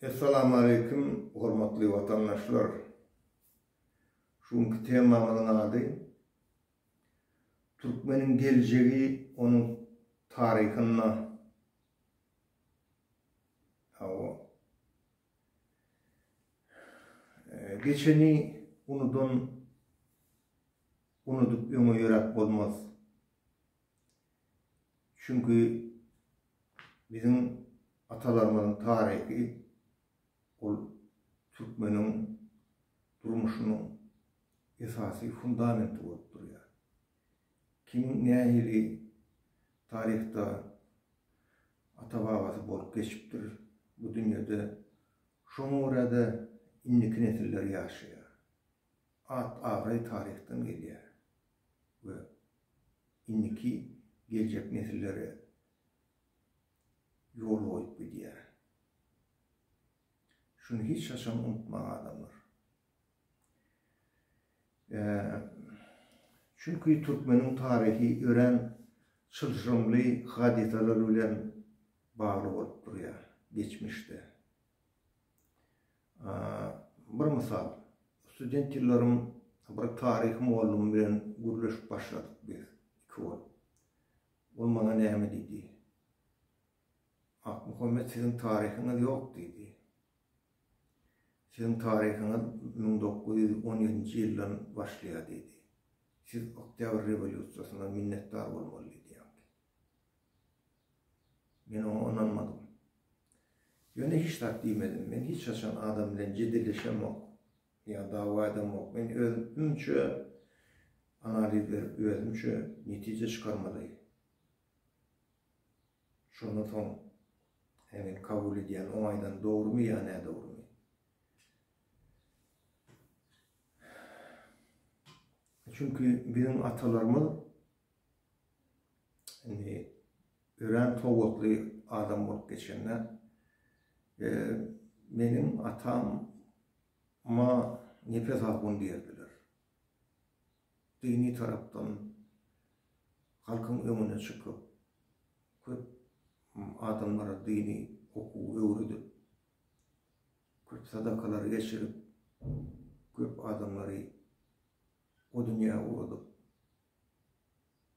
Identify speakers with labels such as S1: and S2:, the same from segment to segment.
S1: Essalamualeýkum hormatly watandaşlar! Şu günki temamyzyň ady Türkmeniň geljegi onuň taryhynda. Hawa. Geçeni unudan unudyp öňe ýöräp bolmaz. Çünki biziň atalarymyzyň taryhy ol türkmeniň durmuşynyň esasy fundamenti bolup durýar. Kim nähili taryhda ata-babasy bolup geçipdir bu dünýede, şoňa görä-de indiki nesiller ýaşaýar. At-abraý taryhdan gelýär we indiki geljek nesillere ýol goýup gidýär. Şuny hiç haçan unutmaň adamlar. Çünki türkmeniň taryhy örän çylşyrymly hadysalar bilen bagly bolup durýar geçmişde. Bir mysal, student ýyllarym bir taryh mugallymym bilen gürleşip başladyk biz iki bolup. Ol maňa näme diýdi? Akmuhammet siziň taryhyňyz ýok diýdi. Siziň taryhyňyz müň dokuz ýüz on ýedinji ýyldan başlaýar diýdi. Siz Oktýabr rewolýusiýasyna minnetdar bolmaly diýdi. Men oňa ynanmadym. Ýöne hiç zat diýmedim. Men hiç haçan adam bilen jedilleşemok. Ýa dawa edemok. Men özümçe analiz berip, özümçe netije çykarmaly. Şondan soň hemen kabul edýän, oň aýdan dogrumy ýa nädogrumy. Çünki biziň atalarymyz Indi örän sowatly adam bolup geçende meniň atama nepes algun diýerdiler. Dini tarapdan halkyň öňüne çykyp, köp adamlara dini okuw öwredip, köp sadakalary geçirip, köp adamlary o dünýä ugradyp,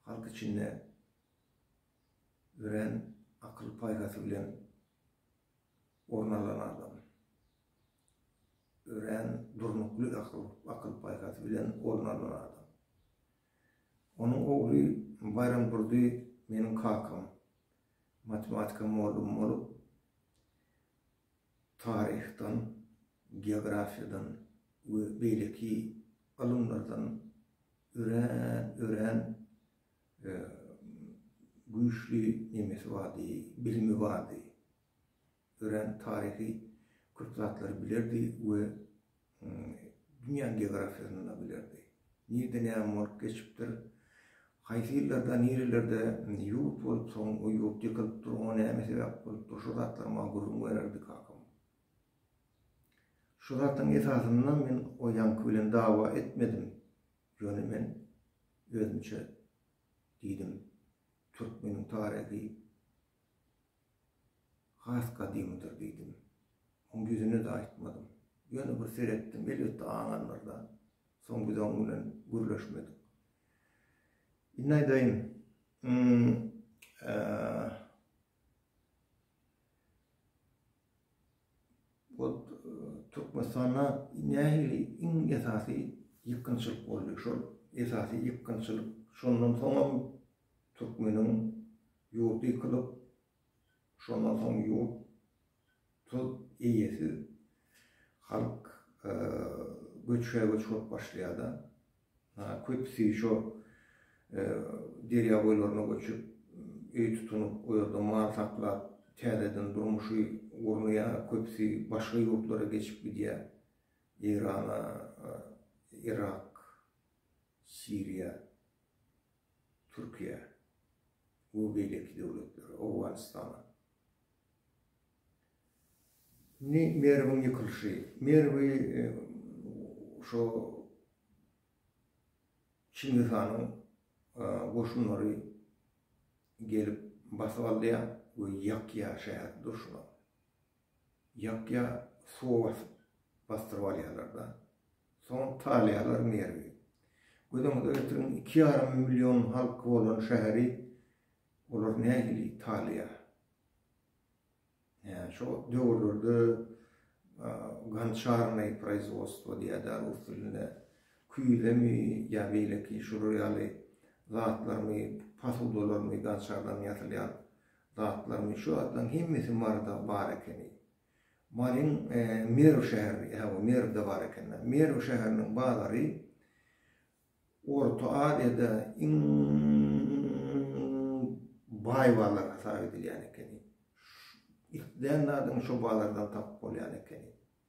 S1: Halk içinde örän akyl-paýhasy bilen orun alan adam. Örän durnukly akyl-paýhasy bilen orun alan adam. Onuň ogly Baýramdurdy meniň kakam, matematika mugallym bolup, taryhdan, geografiýadan we beýleki ylymlardan örän, örän güýçli nemesi bardy, bilimi bardy. Örän taryhy köp zatlary bilerdi we Dünýäniň geografiýasynda bilerdi. Nirede näme bolup geçipdir, haýsy ýyllarda, nirelerde ýurt bolup, soň o ýurt ýykylyp dur, oňa näme sebäp bolupdyr, şu zatlar maňa gürrüň bererdi kakam. Şu zatyň esasynda men o ýaňky bilen dawa etmedim. Ýöne men özümçe diýdim, türkmeniň taryhy Has gadymydyr diýdim. Oň ýüzüne-de aýtmadym. Ýöne bir seretdim, elbetde aňandyr-da. Soň biz oň bilen gürleşmedik. Indi aýdaýyn, ol Türkmenistanda nähili iň esasy ýykgynçylyk boldy? Şol esasy ýykgynçylyk şondan soňam Türkmeniň ýurdy ýykylyp, şondan soň ýurt tutup, eýesiz, halk göçbe-göç bolup başlaýar-da. Köpüsi şo derýa boýlaryna göçüp, öý tutunyp, o ýerde mal saklap, täzeden durmuşy gurnaýar, köpüsi başga ýurtlara geçip gidýär, Eýrana, Yrak. Siriýa, Türkiýä we beýleki döwletlere, Owganystana. Indi Merwiň ýykylyşy. Merwi şo Çingiz hanyň goşunlary gelip basyp alýar we ýakýar şäher durşuna. Ýapýar, suwa basyp, basdyryp alýarlar-da. Soň salýarlar merwi. Göz öňüňize getiriň, iki ýarym million halky bolan şäheri olar nähili salýar? Näçe wagt döwürlerde gonçarnoý proizwodstwo diýýärdi rus dilinde, küýzemi ýa beýleki şular ýaly zatlarmy, posudalarmy gonçardan ýasylýan Zatlaryň, şu zatlaryň hemmesi Maryda bar ekeni. Maryň Merw şäheri, ýa bu Merwde bar ekeni. Merw şäheriniň bazary Orta Aziýada iň baý bazar hasap edilýän ekeni. Islän zadyňy şu bazardan tapyp bolýan ekeni.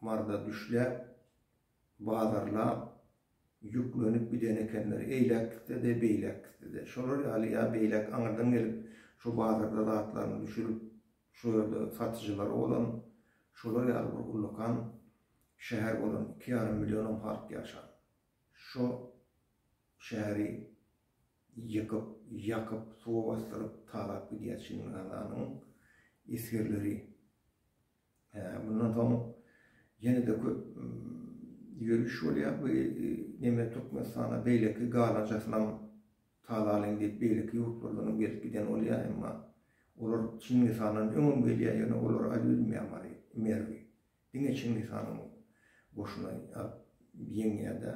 S1: marza düşläp, bazarlap, ýüklenip giden ekenler. Eýläk gitse-de, beýläk gitse-de. Şolar ýaly ýa beýläk aňyrdan gelip, şo bazarda zatlaryny düşürip, şo ýerde satyjylary bolan, şolar ýaly bir ullakan şäher bolan, iki ýarym millionam halk ýaşan şo şäheri ýykyp, ýakyp, suwa basdyryp, talap gidýär Çingiz Hananyň esgerleri. Mundan soň ýene-de köp ýöriş bolýar. Bu neme Türkmenistana beýleki galanjasynam talalyň diýip beýleki ýurtlardanam gelip giden bolýar, emma olar Çingiz handan öňem gelýär, ýöne olar aýl bilmeýär Mary, Merwi. Diňe Çingiz hanyň goşuny alyp ýeňýär-de.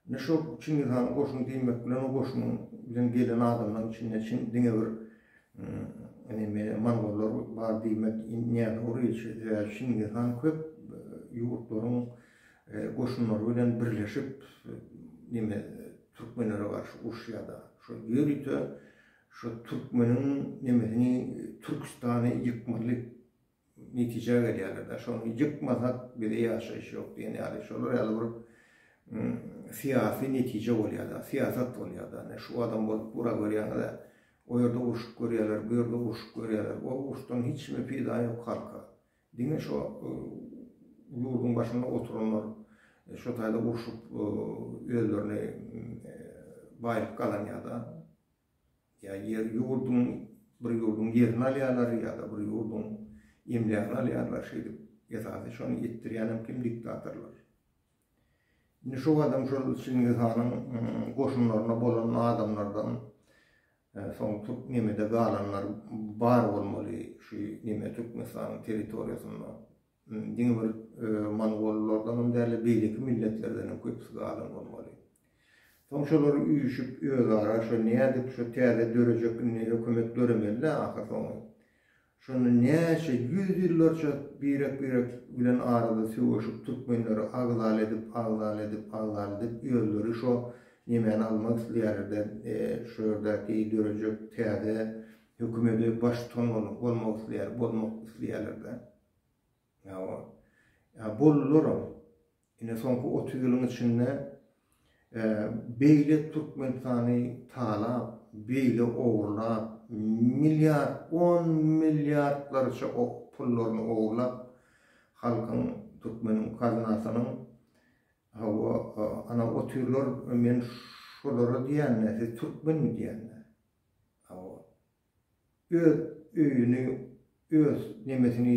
S1: Ine şo Çingiz hanyň goşuny diýmek bilen o goşunyň bilen gelen adamlaryň içinde çyn diňe bir neme mongollar bar diýmek nädogry sebäbi Çingiz han köp ýurtlaryň goşunlary bilen birleşip neme türkmenlere garşy urşýada şol ýörite şo türkmeniň nemesini Türkistany ýykmaly netijä gelýärler-dä, şony ýykmasak bize ýaşaýyş ýok diýen ýaly, şolar ýaly bir syýasy netije bolýar-da, syýasat bolýar-da, ine şu adam bolup bura görýäňiz-ä, o ýerde urşup görýärler, bu ýerde urşup görýärler, o uruşdan hiç kime peýda ýok halka, diňe şo ýurduň başynda oturanlar şo taýda urşup özlerini baýlyk gazanýar-da. Ýa ýer ýurduň bir ýurduň ýerini alýarlar ýa-da bir ýurduň emlägini alýarlar şeýdip esasy şony etdirýänem kim diktatorlar. Indi şo adam şol Çingiz hanyň goşunlaryna bolan adamlardan soň türk nemede galanlar bar bolmaly şu neme Türkmenistanyň territoriýasynda. Diňe bir mongollardanam däl-de, beýleki milletlerdenem köpüsi galan bolmaly. Soň şolar üýşüp, özara şo nädip şo täze dörejek indi hökümet döremeli-dä ahyrsoňy. Şonda näçe ýüz ýyllarça birek-birek bilen arada söweşip, türkmenleri agzal edip, agzal edip, agzal edip, özleri şo nemäni almak isleýärler-de, şu ýerdäki dörejek täze hökümede baş tutan bolmak isleýär, bozmak isleýärler-de. Hawa. Ýa boldularam. Ine soňky otuz ýylyň içinde beýle Türkmenistany talap, beýle ogurlap, milliard, on milliardlarça pullaryny ogurlap, halkyň, türkmeniň kazynasynyň, hawa, ana otuz ýyllar men şolara diýänine siz türkmenmi diýenine. Hawa. Öz öýüni öz nemesini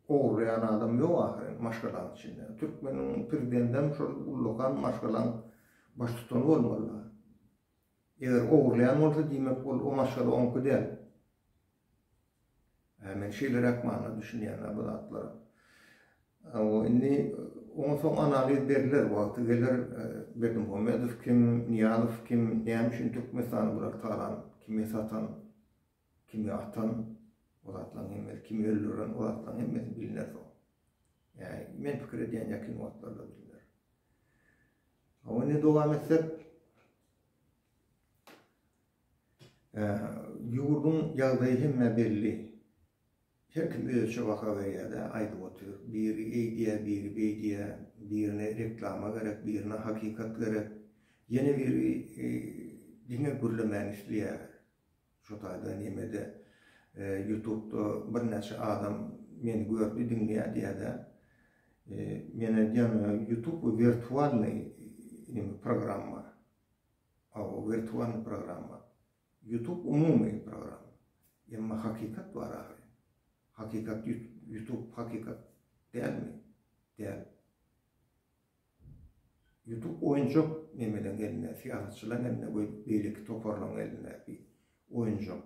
S1: ogurlaýan adam ýok ahyryn maşgalaň içinde. Türkmeniň prezidendem şol ullakan maşgalaň baş tutany bolmaly. Eger ogurlaýan bolsa diýmek ol o maşgala oňki däl. Hä men şeýleräk manyda düşünýän bu zatlara. Hawa, indi onsoň analiz berler, wagty geler. Berdimuhamedow kim, Nyýazow kim, näme üçin Türkmenistany bular talan, kime satan, kime atan, bu zatlaryň hemmesi, kimi öldüren, bu zatlaryň hemmesi bilner soň. Ýa-ni, men pikir edýän ýakyn wagtlarda bilner. Hawa, indi dowam etsek, ýurduň ýagdaýy hemmä belli. Her kim özüçe baha berýär-de, aýdyp otyr. Biri eýdýär, biri beýdýär. Birine reklama gerek, birine hakykat gerek. Ýene biri diňe gürlemäni isleýär. Şo taýda neme-de, ýutubda birnäçe adam meni gördi, diňleýär diýýär-de. Men aýdýan, ýutub bu wirtualnyý neme, programma. Hawa, wirtualnyý programma. Ýutub umumy program. Emma hakykat bar ahyry. Hakykat ýutub hakykat dälmi? Däl. Ýutub oýunjak nemeleň elinde, syýasatçylaň elinde we beýleki toparlaň elindäki oýunjak.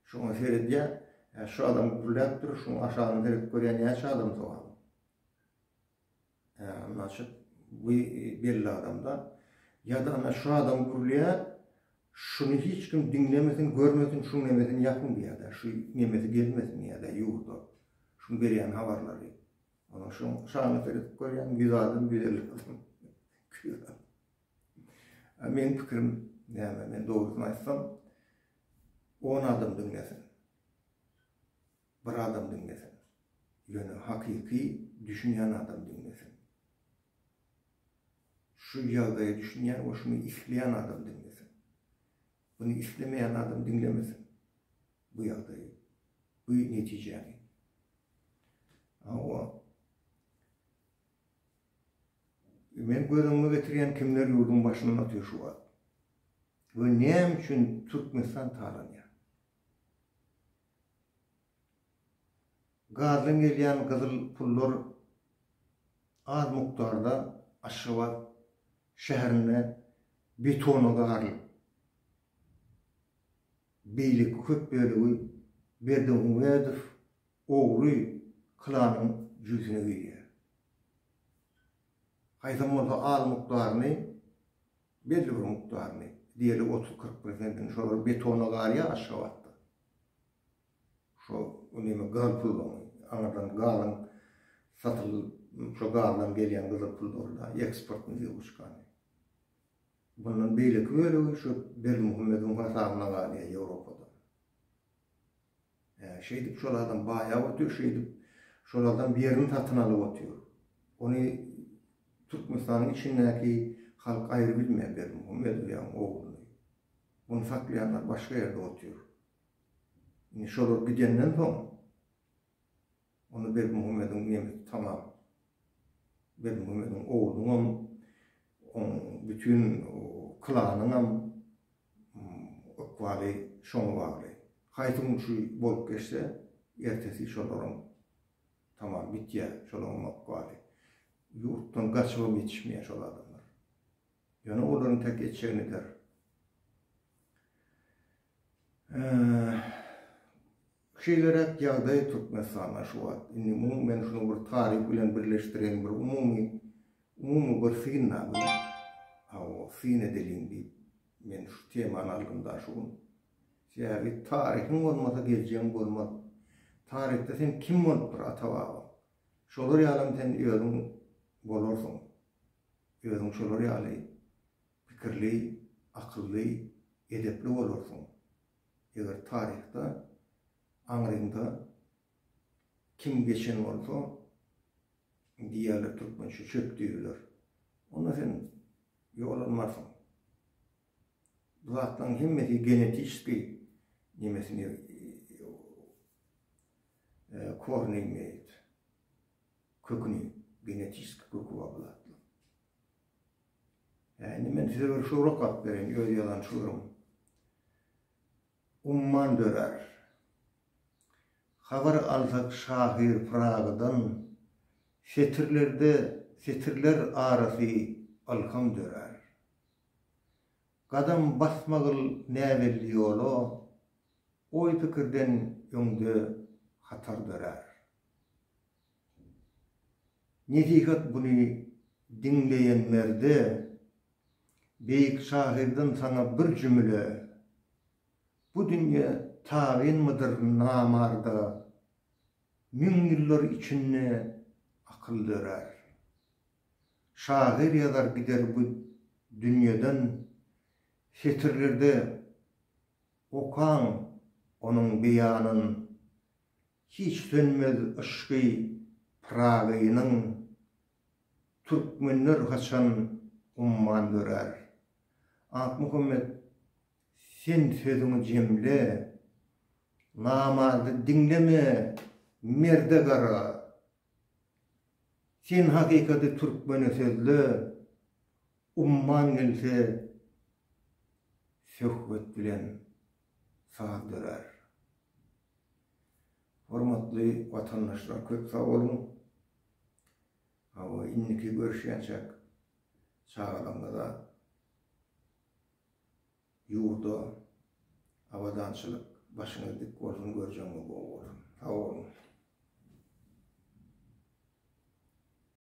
S1: Şoňa seredýär, Hä şu adam gürläpdir, şuň aşagyny seredip görýär näçe adam sogam. Naçik bu belli adamda. Ýa-da ana şu adam gürleýär, şuny hiç kim diňlemesin, görmesin, şuň nemesini ýapyň diýýär-dä, şu nemesi gelmesin diýýär-dä ýurda, şuň berýän habarlary. Onuň şuň şanyna seredip görýäň, ýüz adam, ýüz elli adam gülýär. A meniň pikirim näme, men dogrusyny aýtsam, on adam diňlesin. Bir adam diňlesin. Ýöne hakyky düşünýän adam diňlesin. Şu ýagdaýa düşünýän we şuny isleýän adam diňlesin. Muny islemeýän adam diňlemesin. Bu ýagdaýy, bu netijäni. Hawa. Men göz öňüme getirýän kimler ýurduň başyndan otyr şu wagt. We näme üçin Türkmenistan talanýar? Gazdan gelýän gyzyl pullar az mukdarda Aşgabat şäherinde betona garylyp, beýleki köp bölegi Berdimuhamedow ogly klanyň jüýsüne girýär. Haýsam bolsa az mukdaryny Belli bir mukdaryny, diýeli otuz-kyrk prosentini şolar betona galýar Aşgabatda. Şo näme gaz pullaryny, aňyrdan gazyň satylyp, şo gazdan gelýän gyzyl pul bolýar, eksportnyý wýuçkany. Bundan beýleki bölegi şo Berdimuhamedowyň hasabyna galýar Ýewropada. Şeýdip, şolardan baýap otyr, şeýdip, şolardan bir ýerini satyn alyp otyr. Ony Türkmenistanyň içindäki halk aýry bilmeýär Berdimuhammedowyň ogluny. Ony saklaýanlar başga ýerde otyr. Indi şolar gidenden soň, Onda Berdimuhamediň nemesi tamam. Berdimuhamediň oglunyňam, oň bütin klanyňam ykbaly şoňa bagly. Haýsy gün şu bolup geçse, ertesi şolaryň tamam gitýär, şolaryňam ykbaly. Ýurtdan gaçybam ýetişmeýär şol adamlar. Ýöne olaryň täk etjegi nidir? Şeýleräk ýagdaý Türkmenistanda şu wagt. Indi munuň men şuny bir taryp bilen birleşdireýin bir umumy umumy bir synla bir hawa syn edeliň diýip men şu temany aldym da şu gün. Sebäbi taryhyň bolmasa geljegiň bolmaz. Taryhda sen kim bolupdyr ata-babaň. Şolar ýalam sen özüň bolarsyň. Özüň şolar ýaly pikirli, akylly, edepli bolarsyň. Eger taryhda aňryňda kim geçen bolsa, diýerler türkmençe çöp diýerler. Onda sen ýogalmarsyň. Bu zatlaryň hemmesi genetiski nemesini korny köküni genetiski kökü bar bu zatlaryň. Hä, indi men size bir şygry okalyp bereýin, öz ýazan şygrym. Umman dörär. Habar alsak şahyr Pyragydan, setirlerde, setirler arasy ylham dörär. Gadam basmagyl näbelli ýola, oý-pikirden öňde hatar dörär. Nesihat Buny diňleýenlerde Beýik şahyrdan saňa bir jümle, Bu dünýe tabynmydyr namarda, Müň ýyllar içinde akyl dörär. Şahyr ýazar gider bu dünýeden, Setirlerde okaň onuň beýanyn, Hiç sönmez yşky Pyragynyň, Türkmenler haçan umman dörär? Akmuhammet, sen sözüňi jemle, Namardy diňleme, merde gara! Sen hakykaty türkmene sözle, Umman gelse söhbet bilen. saz dörär. Hormatly watandaşlar köp sag boluň. Hawa indiki görüşýänçäk çagalaryňyza ýurda abadançylyk başyňyz dik bolsun görjegiňiz bol bolsun. Sag boluň.